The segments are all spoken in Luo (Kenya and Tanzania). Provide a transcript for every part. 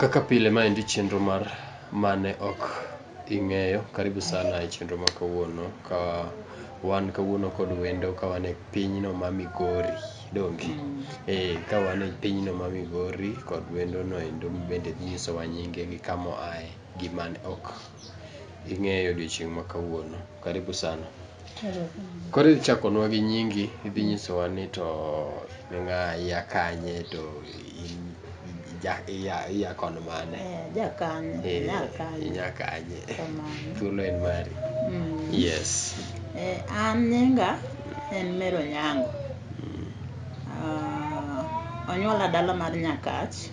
Kaka pile ma endi chenro mar mane ok ing'eyo. Karibu sana e chenro ma kawuono ka wan kawuono kod wendo ka wan e pinyno ma Migori donge? Eh, ka wan e pinyno ma Migori kod wendo no endo bende dhi nyisowa nyinge gi kamo aye gi man ok ing'eyo odiochieng' ma kawuono. Karibu sana. Koro idhi chakonwa gi nyingi, idhi nyisowa ni to in ng'a, ia kanye to in ija ia ia kon mane. Eh, ja kanye, Eh, nya kanye. inya kanye. Kamano. Thuolo en mari. Mm. Yes. Eh, an nyinga en Mary Onyango. Ah, onyuola dala mar Nyakach.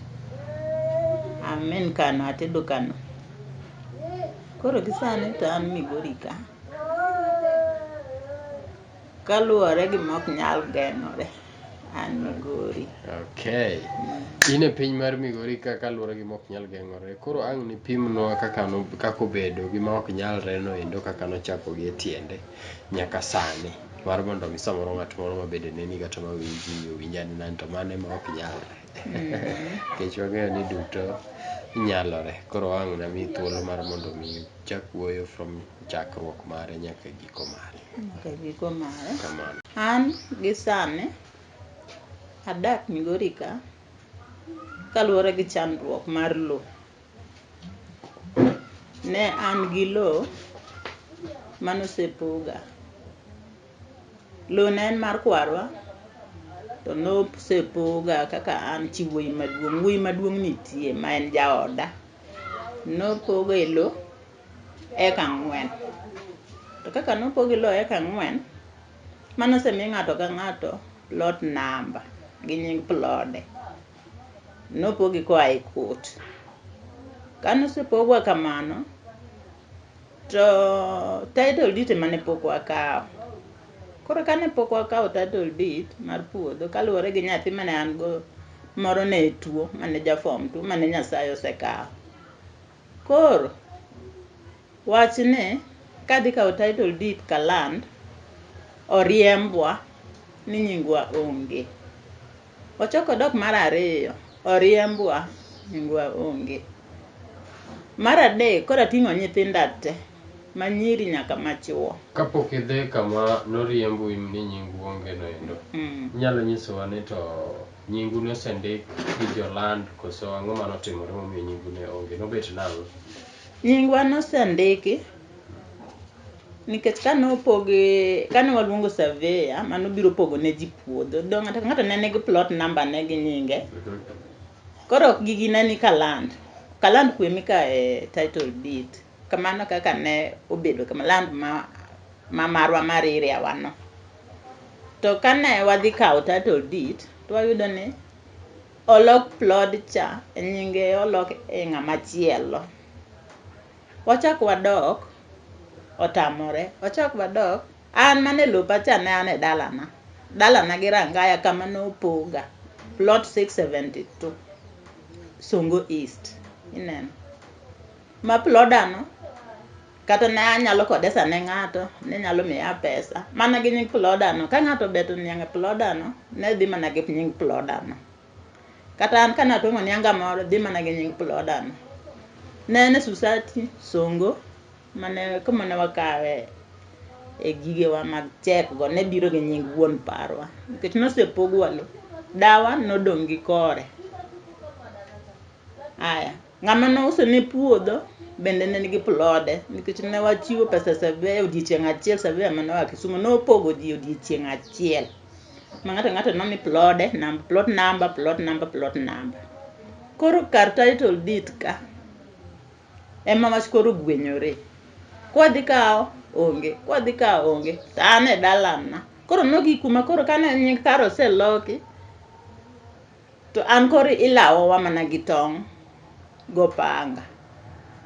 I'm in Kano, atedo Kano. Koro gi sani to an Migori ka. kaluwore gi mok nyal geng'ore an migori okay in e piny mar migori ka kaluwore gi mok nyal geng'ore koro ang' ni pimnwa kaka no kaka obedo gi ma ok nyalre no endo kaka nochako gi e tiende nyaka sani mar mondo mi samoro ng'at moro ma bende neni kata ma winji owinj ane ni to mano ema ok nyalre nikech wang'eyo ni duto nyalore koro ang' na miyi thuolo mar mondo mi Chak wuoyo from chakruok mare nyaka giko mare. Nyaka giko mare. Kamano. An gi sani adak Migori ka kaluwore gi chandruok mar lo. Ne an gi lo manosepoga. Lowo ne en mar kwarwa, to nosepoga kaka an chi wuoyi maduong'. Wuoyi maduong' nitie ma en jaoda. Nopoga e lowo eka ang'wen. To kaka nopogi lowo eka ang'wen, mane osemi ng'ato ka ng'ato plot number gi nying plode. Nopogi koa e court. Kane osepogwa kamano, To title deed ema ne pok wakawo. Koro kane pok wakawo title deed mar puodho kaluwore gi nyathi mane an go moro ne tuo mane ja form two mane Nyasaye osekawo. Koro wach ni kadhi kawo title deed ka land oriembwa ni nyingwa onge. Ochok odok mar ariyo, oriembwa, nyingwa onge. Mar adek koro ating'o nyithinda te, manyiri nyaka machuo. Kapok idhi kama noriembu ni nyingu onge no endo, inyalo nyisowa ni to nyingu nosendik gi jo land koso ang'o mane otimore momiyo nyingu ne onge? Nobet nang'o? Nyingwa nosendiki. Nikech kane opog kane waluongo surveyor mane obiro pogo ne ji puodho, do ng'ato ka ng'ato ne nigi plot number ne gi nyinge. Koro ok gigi ne ni kaland. Kaland kwe mika e title deed. Kamano kaka ne obedo kama land ma, ma marwa mar area wa no. To kane wadhi kawo title deed, to wayudo ni olok plod cha e nyinge olok e ng'ama chielo. Wachak wadok, otamore. Wachak wadok, an mane lopa cha ne an e dalana. Dalana gi Rangaya kama ne opoga. Plot 672, Songo East. Ineno. Ma plodano, kata ne anyalo kodesa ne ng'ato, ne nyalo miya pesa. Mana gi nying plodano. Ka ng'ato obeto niang' e plodano, ne dhi mana gi nying plodano. Kata an kane atong'o nianga moro, dhi mana gi nying ploda no. Ne en e Susati, Songo, mane kuma ne wakawe e gigewa mag chek go ne biro gi nying wuon parwa. Nikech nosepogwa lo, dawa nodong' gi kore. Aya. Ng'ama nouso ne puodho bende ne nigi plode nikech ne wachiwo pesa survey odiechieng' achiel survey mane oa Kisumu nopogo ji odiechieng' achiel ma ng'ato ng'ato nomi plode nam plot number plot number plot number koro kar title deed ka ema wach koro gwenyore kwadhi kawo onge kwadhi kawo onge to an e dalana koro nogik kuma koro kane nying kar oseloki To an koro ilawowa mana gi tong' gopanga.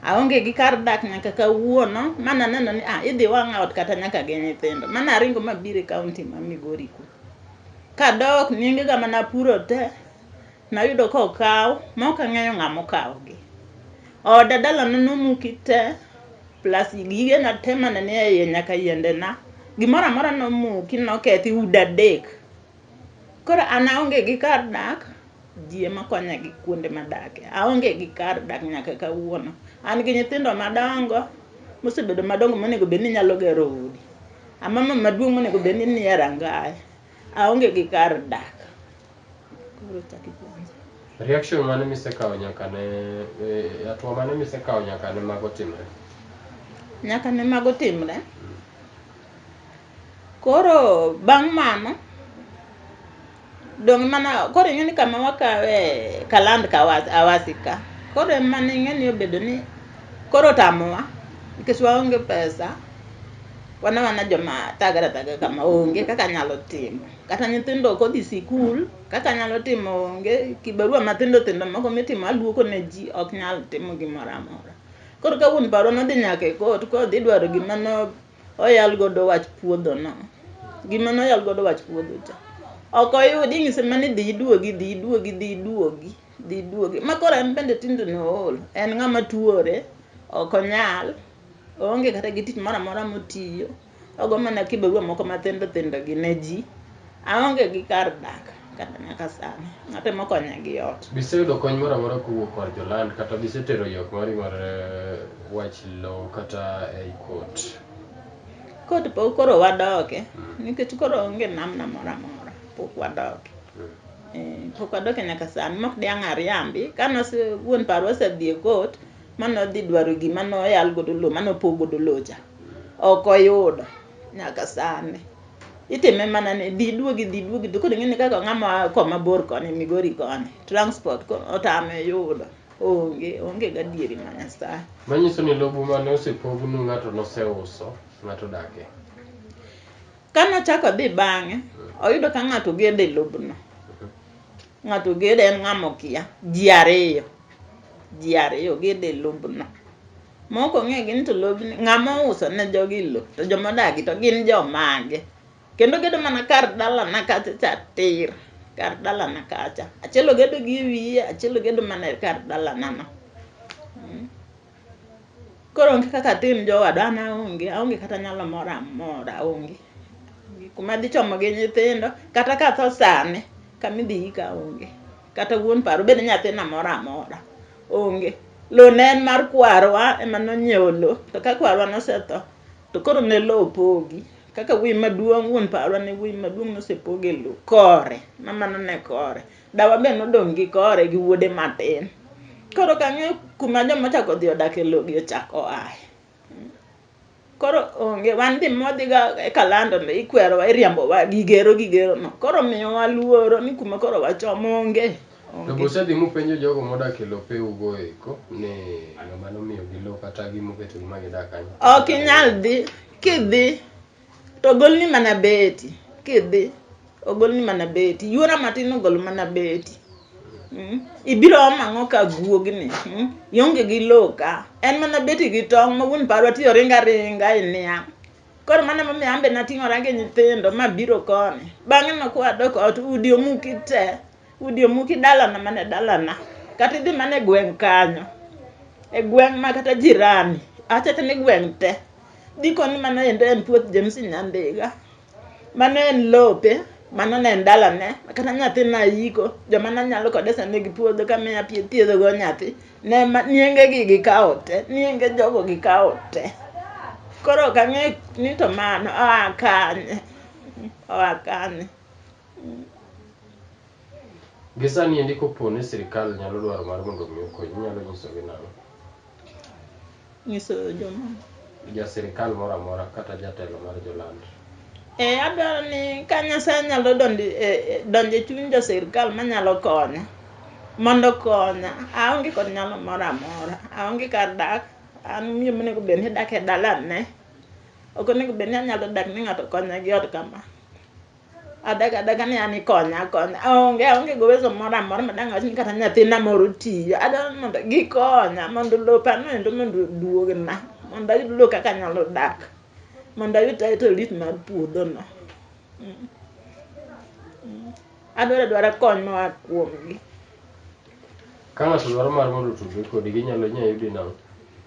Aonge gi kar dak nyaka kawuono, ma naneno ni ah, idhi wang'a ot kata nyaka gi nyithindo. Ma naringo mabiro e kaunti ma Migori ku. Kadok nyingega ma napuro te, nayudo ka okaw, ma ok ang'eyo ng'a mokawogi. Oda dalana nomuki te, plus gigena te mane ni e iye nyaka yiendena, gimoro amora nomuki, nokethi, udi adek. Koro an aonge gi kar dak, ji ema konya gi kuonde madake. Aonge gi kar dak nyaka kawuono. An gi nyithindo madongo, mosebedo madongo monego bed ni nyalo gero udi. Amama maduong' monego bed ni nie rangae. Aonge gi kar dak. Koro chak ipenja. Reaction mane misekawo nyaka ne eh, hatua mane misekawo nyaka ne mago timre? Nyaka ne mago timre, Koro bang' mano, dong' mana koro ing'e ni kama wakawe kaland ka was- awasi ka koro ema ne ing'e ni obedo ni koro otamowa nikech waonge pesa wana wana joma thagre athaga kama onge kaka anyalo timo kata nyithindo ok odhi sikul kaka anyalo timo onge kibarua matindo tindo moko mitimo aluoko ne ji ok nyal timo gimoro amora koro ka wuon parwa nodhi nyaka e kot kodhi dwaro gima no oyal godo wach puodho no gima noyal godo wach puodho cha ok oyud ing'ise mani dhi iduogi dhi iduogi dhi iduogi dhi iduogi ma koro en bende tinde nool en ng'ama tuore ok onyal oonge kata gi tich moro amora motiyo ogo mana kibarua moko mathindo thindo gi ne ji Aonge gi kar dak kata nyaka sani. Atemo konya gi ot. Be iseyudo kony moro amora kowuok kor joland kata be isetero ywak mari mar wach lowo kata ei kot? Kot pok koro wadoke nikech koro onge namna moro amora. Pok wadoke. Eh, pok wadoke nyaka sani mok diang' ariambi. Ka nose wuon parwa osedhi e kot ma nodhi dwaro gima noyal godo lowo ma nopog godo lowo cha. Ok oyudo nyaka sani. itime mana ni dhi duogi dhi duogi to koro ing'eni kaka ng'ama oa koma bor koni migori koni transport ko- otame yudo onge onge gadieri ma nyasaye Manyiso ni lobu mane osepognu ng'ato noseuso, ng'ato odake. kane ochako dhi bang'e oyudo ka ng'ato ogede lobno Ng'ato ogede en ng'ama okia. Ji ariyo. Ji ariyo ogede e lobno. Mok ong'e gini to lobni ng'ama ouso ne jogi lo to joma odagi to gin jomage. Kendo ogedo mana kar dalana kacha cha tir. Kar dalana kacha. Achiel ogedo gi e wiye, achiel ogedo mana e kar dalanano. Koro onge kaka atim jowadwa an aonge, aonge kata nyalo moro amora aonge. Kuma adhi chomo gi nyithindo, kata ka atho sani, kama idhi yika aonge. Kata wuon paro bende nyathina moro amora, onge. Lowo ne en mar kwarwa ema nonyiewo lowo, to ka kwarwa nosetho, to koro ne lowo pogi. Kaka wuoyi maduong' wuon parwa ne wuoyi maduong' nosepoge lowo kore, ma mano ne kore. Dawa be nodong' gi kore gi wuode matin. Koro kang'eyo kuma joma chako odhi odak e logi ochako oaye. Koro onge wan dhi modhiga e kalando no ikwerowa iriambowa gigero gigero no. Koro miyowa luoro ni kuma koro wachomo onge. To onge. be usedhi mupenjo jogo modak e lope ugo eko ni ng'ama nomiyogi lo kata gimoketo gi ma gidak kanyo? Ok inyal dhi kidhi To ogolni mana beti kidhi, ogolni mana beti. Yuora matin ogol mana beti. Mm. Ibiro om ang'o ka guogni? Mm. Ionge gi lowo ka. En mana beti gi tong' ma wuon parwa ti oringo aringa e niang'. Koro mano emomiyo an be nating'ora gi nyithindo mabiro koni. Bang'eno kwadok ot udi omuki te. udi omuki dalana mana dalana kata idhi mana e gweng' kanyo e gweng' ma kata jirani achata ni gweng' te dikoni mano endo en puoth James Nyandiga mano en lope mano ne en dalane kata nyathi nayiko joma nanyalo kode sani gi puodho kamiya pie thiedhogo nyathi ne ma- niengegi gikawo te nienge jogo gikawo te koro ok ang'e ni to mano oa kanye oa kanye Gi sani endi kopo ni sirkal nyalo dwaro mar mondo omi okonyi, inyalo nyisogi nang'o? Nyiso jomoko. Ja sirkal moro amora kata jatelo mar joland. E, adwaro ni ka Nyasaye nyalo donjo e, e, donjo e chuny jo sirkal manyalo konya mondo konya. Aonge kod nyalo moro amora, aonge kar dak, an miyo monego bed ni dak e dalane. Ok onego bed ni anyalo dak ni ng'ato konya gi ot kama. Adagi adaga ni an ikonya akonya. Aonge aonge gi uwezo moro amora ma dang' wach ni kata nyathina moro tiyo. Adwaro ni mondo gikonya mondo lopa no endo mondo oduogna. Mondo ayud lo kaka anyalo dak. Mondo ayud title deed mar puodho no. Mm. Mm. Adwaro adwara kony moa kuomgi. Ka ng'ato dwaro mar mondo otudre kodi, ginyalo inyalo yudi nang'?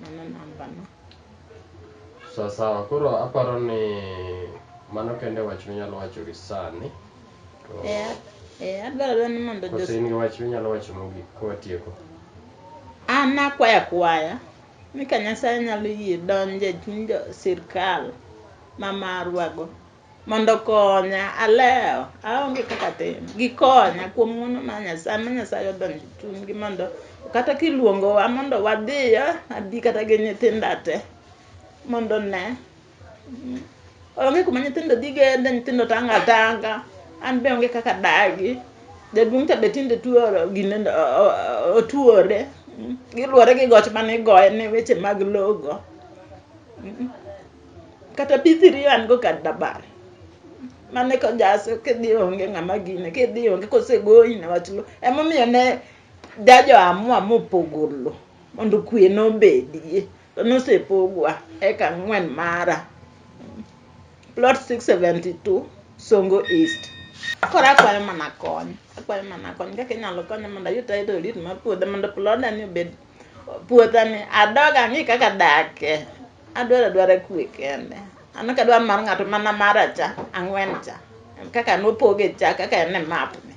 Mano namba na. Sawa sawa, koro aparo ni mano kende wach minyalo wacho gi sani. To Eh, eh, adwaro adwaro ni mondo kose Jos- in gi wach minyalo wacho mogik ka watieko. an nakwaya kwaya ni ka Nyasaye nyalo yie donje chuny jo sirkal ma marwago Mondo okonya alewo aonge kaka tim gikonya kuom ng'wono ma Nyasaye ma Nyasaye odonjo e chunygi mondo kata kiluongowa mondo wadhiyo abi kata gi nyithinda te mondo ne Mm. onge kuma nyithindo dhi gende nyithindo tanga tanga an be onge kaka dagi jaduong' cha be tinde tuoro gine o- o- o- otuore Mm. giluwore gi goch mane igoye ne weche mag logo kata bithiri an go kar dabar mane kojaso kidhi onge ng'ama gine kidhi onge kosegoyi ne wach lo emomiyo ne jajo amua mopogo lo mondo kwe nobedie to nosepogwa eka ang'wen mara plot 672 songo east koro akwayo mana kony akwayo mana kony kaka inyalo konya mondo ayud tayo torit mar puodha mondo puodha ni obed puodha ni adog ang'i kaka dake Adwaro adwara kwe kende. An ok adwar mar ng'ato mana mara cha, ang'wen cha. Kaka nopoge cha, kaka en e map ni.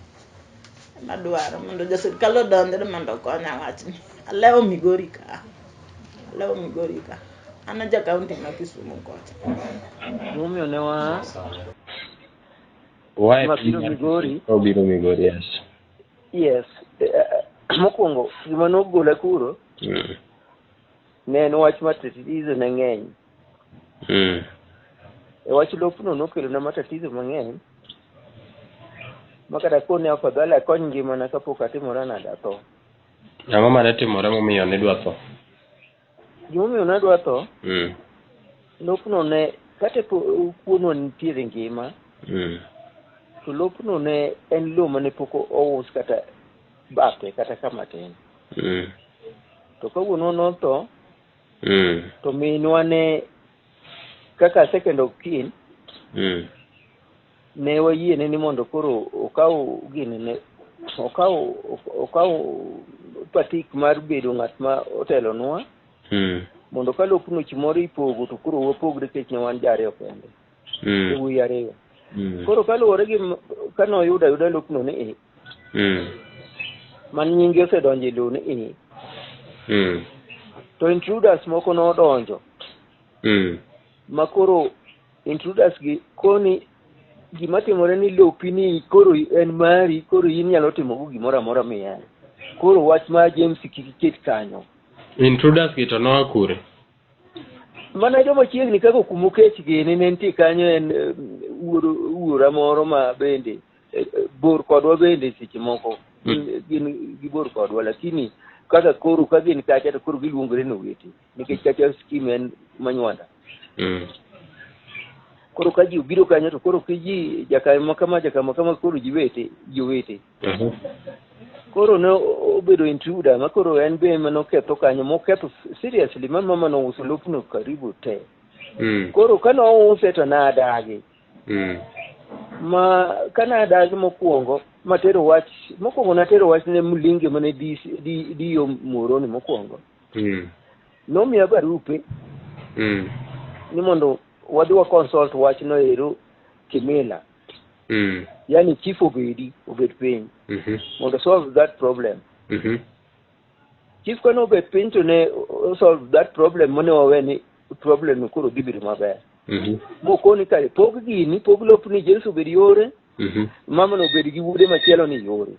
Ema adwaro mondo jo sirkal odonjre mondo okonya wachni. Alewo Migori ka. Alewo Migori ka. An aja kaunti ma Kisumu kocha. Gimomiyo ne wa Wae ma biro Migori. Obiro Migori, yes. Yes. eh, Mokwongo gima nogola kuro Mm. Ne en wach matatizo ne ng'eny. Mm. E wach lopno nokelo na matatizo mang'eny. Makata koro ne afadhali akony ngimana kapok atimora nade atho. Ang'o mane timore momiyo nidwa tho? Gimomiyo nadwa tho, Mm. lopno ne kata po- kuonwa nitiere ngima, Mm. to lopno ne en lowo mane pok ous kata bathe kata kama tin mm. to ka wuonwa notho mm. to minwa ne kaka second of kin mm. ne wayiene ni mondo koro okaw gini ne okaw okaw patik mar bedo ng'at ma otelonwa hmm. mondo ka lop nuch moro ipogo to koro wapogre kech ne wan jariyo kende hmm. e wuyi ariyo hmm. koro kaluwore gi kanoyudo ayuda lopno ni mm. man nyingi osedonjo e lowo ni i mm. to intruders moko nodonjo mm. ma koro intruders gi koni gima timore ni lopi ni koro en mari koro in nyalo timogo gimoro amora miyani koro wach ma james kik iket kanyo intruders gi to noa kure mana joma chiegni kaka kumo kech gini ne nitie kanyo en eh, wuoro- wuora moro ma bende eh, eh, bor kodwa bende seche moko hmm. gin gibor kodwa lakini kaka koro ka gin kacha to koro giluongore ni owete nikech kacha skim en manywanda hmm. koro ka ji obiro kanyo to koro ki ji jakama kama jakama kama koro ji wete ji owete mhm. koro ne obedo intruder ma koro en be ema noketho kanyo moketho seriously ma mama nouso lopno karibu te hmm. koro ka nouse to nadagi mm. ma kane adagi mokwongo matero wach mokwongo natero wach ne mlinge mane diyo moroni mokwongo mm. nomiya barupe mm. ni mondo wadhi wa consult wach no ero kimila mm. yani chief obedi obed piny mm -hmm. mondo solve that problem mm -hmm. chief kane obet piny to ne o- solve that problem mane wawe ni problem no koro dhi bedo maber Mhm. mokoni kare pog gini pog lopni jesu obed yore Mhm. mamano obed gi wuode machielo ni yore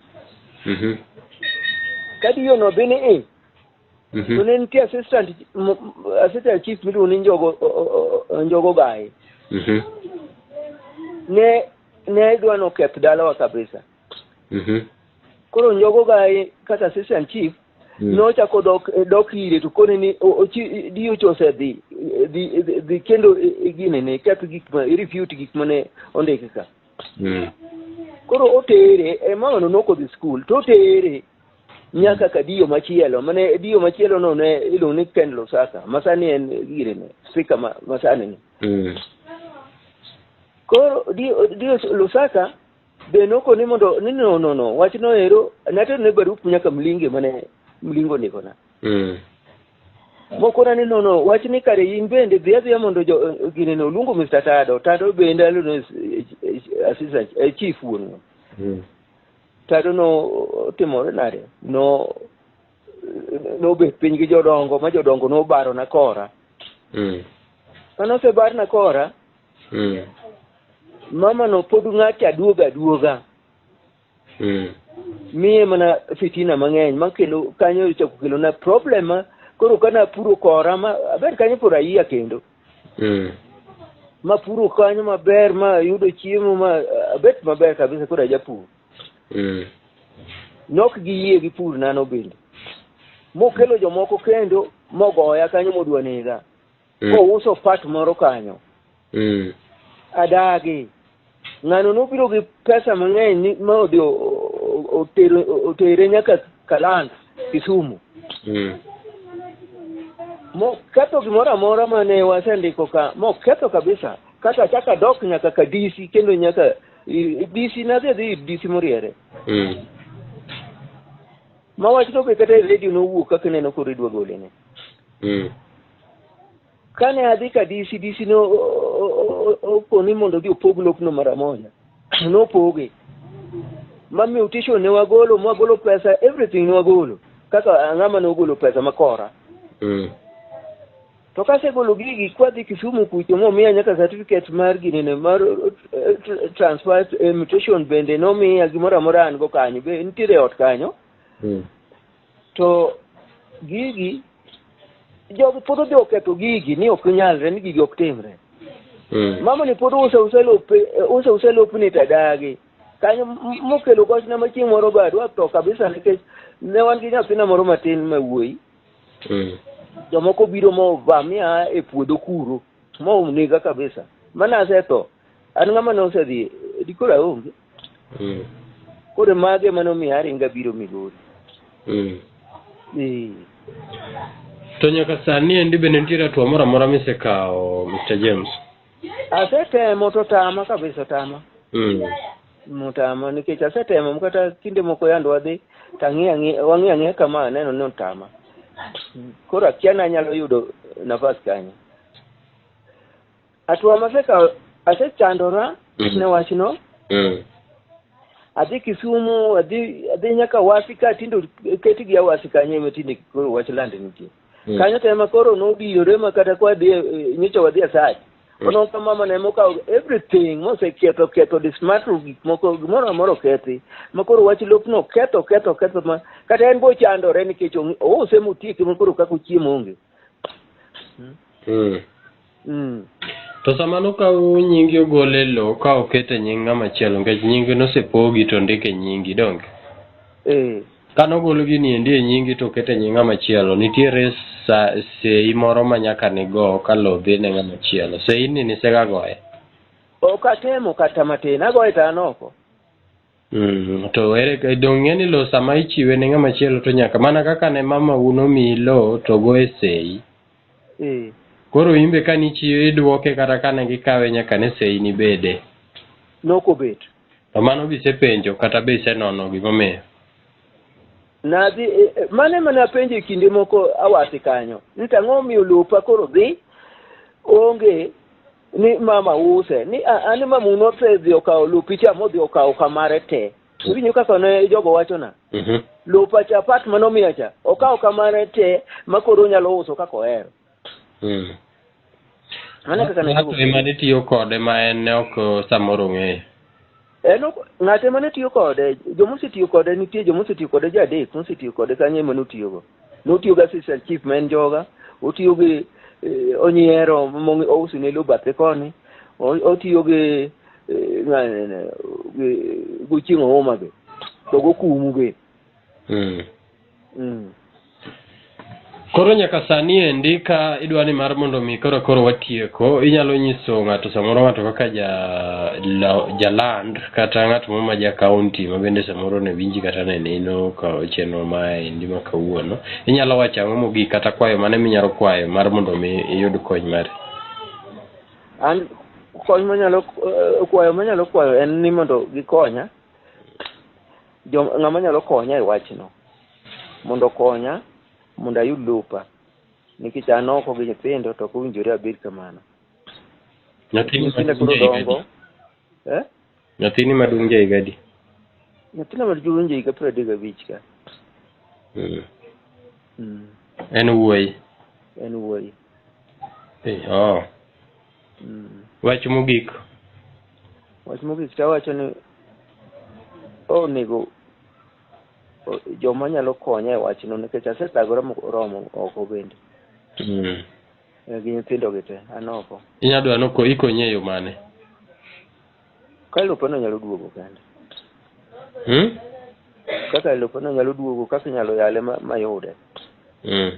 Mhm. ka diyono dhi ni i to Mhm. ne nitie assistant m- m- assistant chief miluongo ni njogo o- o- o- njogo gaye Mhm. ne ne dwa noketh dalawa kabisa Mhm. koro njogo ga e- kaka assistant chief Mm. nochako dok e, dok ire to kone ni o- ochi- DH osedhi e, dhi e, dhi- dhi kendo e, e, gine ne keth gik ma refute gik mane ondiki ka Mm. koro otere e, mamano nokodhi skul to otere nyaka ka diyo machielo mane diyo machielo no ne iluongo ni Ken Lusaka masani en gire ne spika ma- masani ni Mm. koro diyo diyo Lusaka Be noko ni mondo ni no no no wach no ero natero ne barup nyaka mlinge mane mlingo niko na. Mm. Moko na ni no no wach ni kare in bende dhi adhiya mondo jo gine no luongo Mr. Tado. Tado bende alo no assistant eh, chief wuon. Mm. Tado no timore nade? No no bet piny gi jodongo ma jodongo no baro na kora. Mm. Mano osebar na kora. mm. mama no pod ng'ate aduoga aduoga mm. miye mana fitina mang'eny makendo kanyo chako kelo na problem ma koro kana puro kora ma aber kanyo puro ayiya kendo mm. ma puro kanyo maber ma yudo chiemo ma abet maber kabisa koro ajapur mm. nok gi yie gi pur nano bende mokelo jomoko kendo mogoya kanyo modwa nega mm. kouso part moro kanyo mm. adagi ng'ano nobiro gi pesa mang'eny ma odhi otere nyaka kalanda kisumu mm. moketho gimoro amora mane wasendiko ka moketho kabisa kata chaka dok nyaka ka dc kendo nyaka dc nadhi adhi dc moriere mm. ma wach to be kata e redio nowuok kaka ineno koro idwa golene mm. kane adhi ka DC DC ne o- o- o- o- okoni mondo odhi opog lopno mara moja nopoge ma mutation ne wagolo ma wagolo pesa everything ne wagolo kaka ang'ama ne ogolo pesa makora Mm. to kasegolo gigi kwadhi Kisumu kucho momiya nyaka certificate mar ginene mar eh, tr- transfer eh, mutation bende nomiya gimoro amora an go kanyo be nitiere e ot kanyo Mm. To gigi jogi pod odhi oketho gigi ni ok nyalre ni gigi ok timre. Mm. Mama ni pod uso uso lope eh, uso uso lopni to adagi. Kanyo m- mokelo gochna ma chieng' moro bad watho kabisa nikech ne wan gi nyathina moro matin ma wuoyi. Mm. jomoko biro movamia e puodho kuro monega kabisa mana asetho an ng'ama ne osedhi dikoro aonge mm. koro mage mane omiyo aringa biro migori mm. eh. to nyaka sani endi bende nitiere atuo moro amora misekawo mr james asetemo to tama kabisa otama mm. motama nikech asetemo kata kinde moko yand wadhi tang'e ang'e wang'e ang'e kama aneno ni otama koro akia nanyalo yudo nafas kanyo Atwa maseka asechandora mm. ne wachno. Mm. Adhi Kisumu, adhi adhi nyaka wasi ka tindo keti gi wasi kanye me tinde koro wach land nitie. Mm. Kanyo tema koro no biyore ma kata kwa dhi eh, nyicho wadhi asach. Mm. Ono ka mama ne moka everything mo se keto keto this matter gik moko gimoro amoro kethi. Ma koro wach lop no keto keto keto ma kata en bo chandore nikech o se mutieke ma koro kako chiemo onge. Mm. mm. Mm. To sama nokaw nyingi ogol e lowo ka oket e nying ng'ama chielo nikech nyingi nosepogi to ndik e nyingi donge? Eh. Ka nogol gini endi e nyingi to oket e nying ng'ama chielo, nitiere sa, sei moro ma nyaka nigo ka lowo dhi ne ng'ama chielo. Sei ni nisegagoye. Ok atemo kata matin, agoye to an oko. Mm, to ere donge ng'e ni lowo sama ichiwe ne ng'ama chielo to nyaka mana kaka ne mama u nomiyi lowo to go e sei. Eh. Koro in be kane ichiwe idwoke kata kane gikawe nyaka ne sei ni bede. Nok obet. To mano be isepenjo kata be isenono gimomiyo? Nadhi e, e, mano ema napenjo e kinde moko awasi kanyo ni to ang'o omiyo lopa koro dhi onge ni mama use ni a- ani mama un osedhi okawo lopicha modhi okawo kamare te winyo kaka ne jogo wachona Mhm. lopacha pat mane omiya cha okawo kamare te ma koro onyalo uso kaka ohero Mm. mano e kaka ne Ng'ato ema ne tiyo kode ma en ne ok samoro ong'eyo. En ok- ng'ate mane tiyo kode joma osetiyo kode nitie joma osetiyo kode ji adek mosetiyo kode kanyo ema notiyogo notiyo gi assistant chief ma en joga otiyo gi eh, onyiero mong- ouso ne lo bathe koni O- otiyo gi eh, ng'a- gi- gochieng' ouma be to gokumu be Mm. Mm. Koro nyaka sani endi ka idwa ni mar mondo mi koro koro watieko, inyalo nyiso ng'ato samoro ng'ato kaka ja la- jaland kata ng'at moro ma ja county ma bende samoro ne winji kata ne neno ka chenro ma endi ma kawuono. Inyalo wacho ang'o mogik kata kwayo mane minyalo kwayo mar mondo mi iyud kony mari. an kony manyalo eh, kwayo manyalo kwayo en ni mondo gikonya Jo, ng'ama nyalo konya e wachno mondo okonya mondo ayud lopa nikech an oko gi nyithindo to ok owinjore abed kamano. Nyathini Nyithinda maduong' koro ja higa dongo. adi? Eh? Nyathini maduong' ja higa adi? Nyathina maduong' winjo higa piero adek gabich ka. Mm. Mm. En wuoyi. En wuoyi. Eh, oh. Mm. Wach mogik. Wach mogik tawacho ni onego joma nyalo konya e wachno nikech asedagore moromo oko bende. Mm. Eh, gi nyithindo gi te an oko. Inya dwa no ikonyi e yo mane? Ka lopeno nyalo duogo kende. Hmm? Kaka lopeno nyalo duogo kaka inyalo yale mayude. Mm.